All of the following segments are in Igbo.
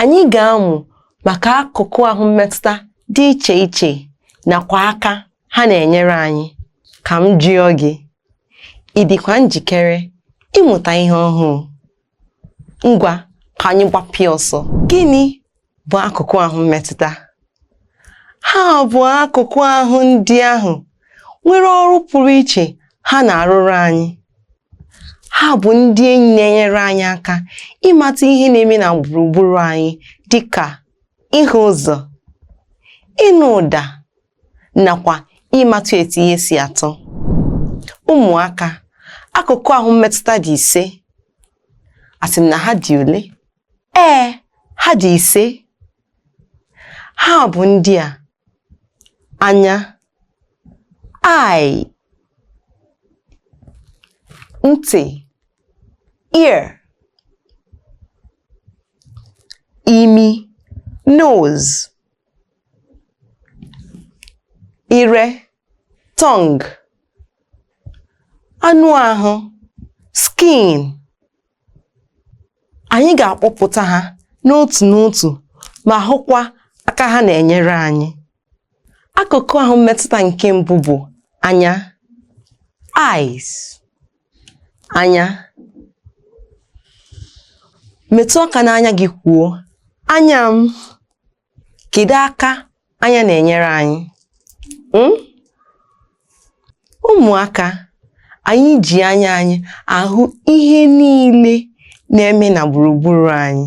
anyị ga-amụ maka akụkụ ahụ mmetụta dị iche iche nakwa aka ha na-enyere anyị ka m jụọ gị ị dịkwa njikere ịmụta ihe ọhụụ ngwa ka anyị gbapịa ọsọ gịnị bụ akụkụ ahụ mmetụta Ha bụ akụkụ ahụ ndị ahụ nwere ọrụ pụrụ iche ha na-arụrụ anyị. Ha bụ ndị enyi na-enyere anyị aka ịmata ihe na-eme na gburugburu anyị dị ka ịhụ ụzọ, ịnụ ụda nakwa ịmatụ etu ihe si atọ. Ụmụaka, akụkụ ahụ mmetụta dị ise. Asị m na ha dị ole? Ee, ha dị ise. ha bụ ndị a anya eye ntị ear imi nose ire tongue anụ ahụ skin anyị ga-akpọpụta ha n'otu n'otu ma hụkwa aka ha na-enyere anyị akụkụ ahụ mmetụta nke mbụ bụ anya eyes anya metụ aka n'anya gị kwuo anya m kedu aka anya na-enyere anyị hmm? ụmụaka anyị ji anya anyị ahụ ihe niile na-eme na gburugburu anyị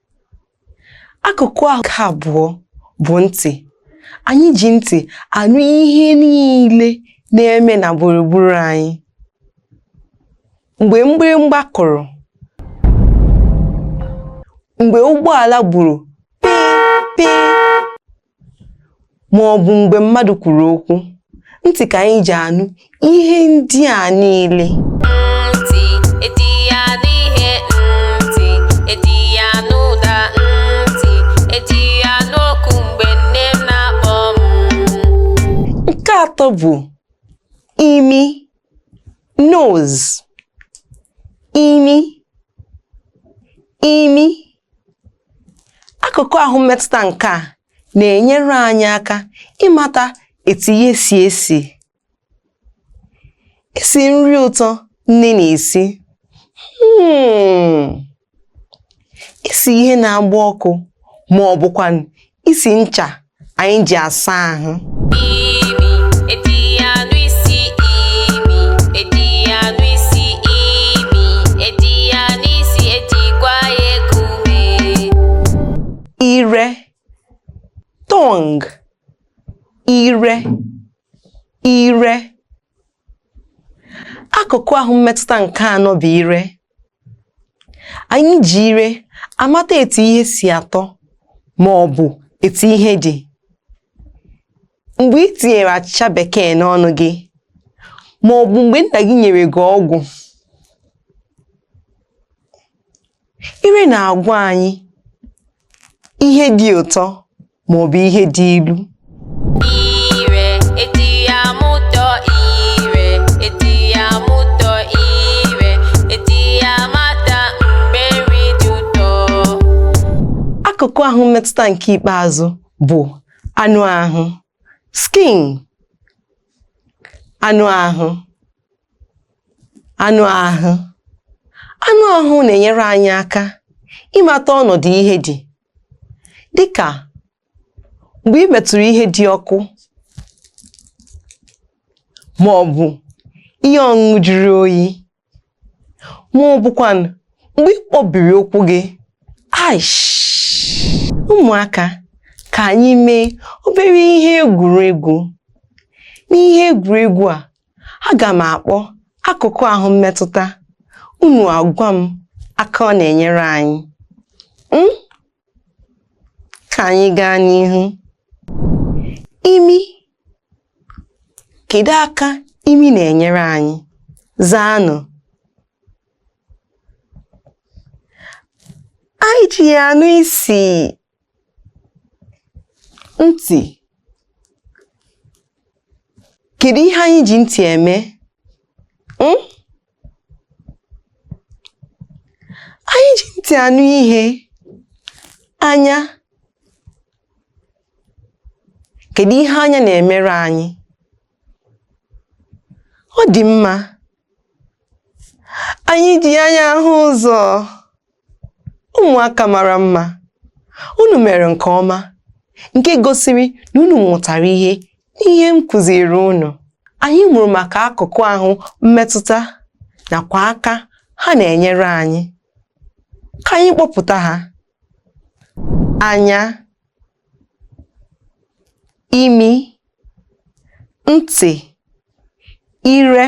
akụkụ ahụ nke abụọ bụ ntị anyị ji ntị anụ ihe niile na-eme na gburugburu anyị mgbe mgbịrịmgba kụrụ mgbe ụgbọala gburu pịị pịị ma ọ bụ mgbe mmadụ kwuru okwu ntị ka anyị ji anụ ihe ndị a niile nke atọ bụ imi nose imi imi Akụkụ ahụ mmetụta nke a na-enyere anyị aka ịmata etu ihe si esi isi nri ụtọ nne na-esi hmm. isi ihe na-agba ọkụ ma ọ bụkwanụ isi ncha anyị ji asa ahụ ire tongue ire ire akụkụ ahụ mmetụta nke anọ bụ ire anyị ji ire amata etu ihe si atọ ma ọ bụ etu ihe dị mgbe i tinyere achịcha bekee n'ọnụ gị ma ọ bụ mgbe nna gị nyere gị ọgwụ ire na-agwa anyị ihe dị ụtọ ma ọ bụ ihe dị ilu akụkụ ahụ mmetụta nke ikpeazụ bụ anụ ahụ skin anụ ahụ anụ ahụ anụ ahụ na-enyere anyị aka ịmata ọnọdụ ihe dị dịka mgbe i metụrụ ihe dị ọkụ ma ọ bụ ihe ọṅụṅụ jụrụ oyi ma ọ bụkwanụ mgbe ị kpọbiri ụkwụ gị aish ụmụaka ka anyị mee obere ihe egwuregwu n'ihe egwuregwu a aga m akpọ akụkụ ahụ mmetụta unu agwa m aka ọ na-enyere anyị m ka anyị gaa n'ihu imi kedu aka imi na-enyere anyị zaanụ anyị ji ya anụ isi ntị kedu ihe anyị ji ntị eme hmm? anyị ji ntị anụ ihe anya kedu ihe anya na-emere anyị ọ dị mma anyị ji anya ahụ ụzọ ụmụaka mara mma unu mere nke ọma nke gosiri na unu mụtara ihe n'ihe m kụziiri unu anyị mụrụ maka akụkụ ahụ mmetụta nakwa aka ha na-enyere anyị ka anyị kpọpụta ha anya imi ntị ire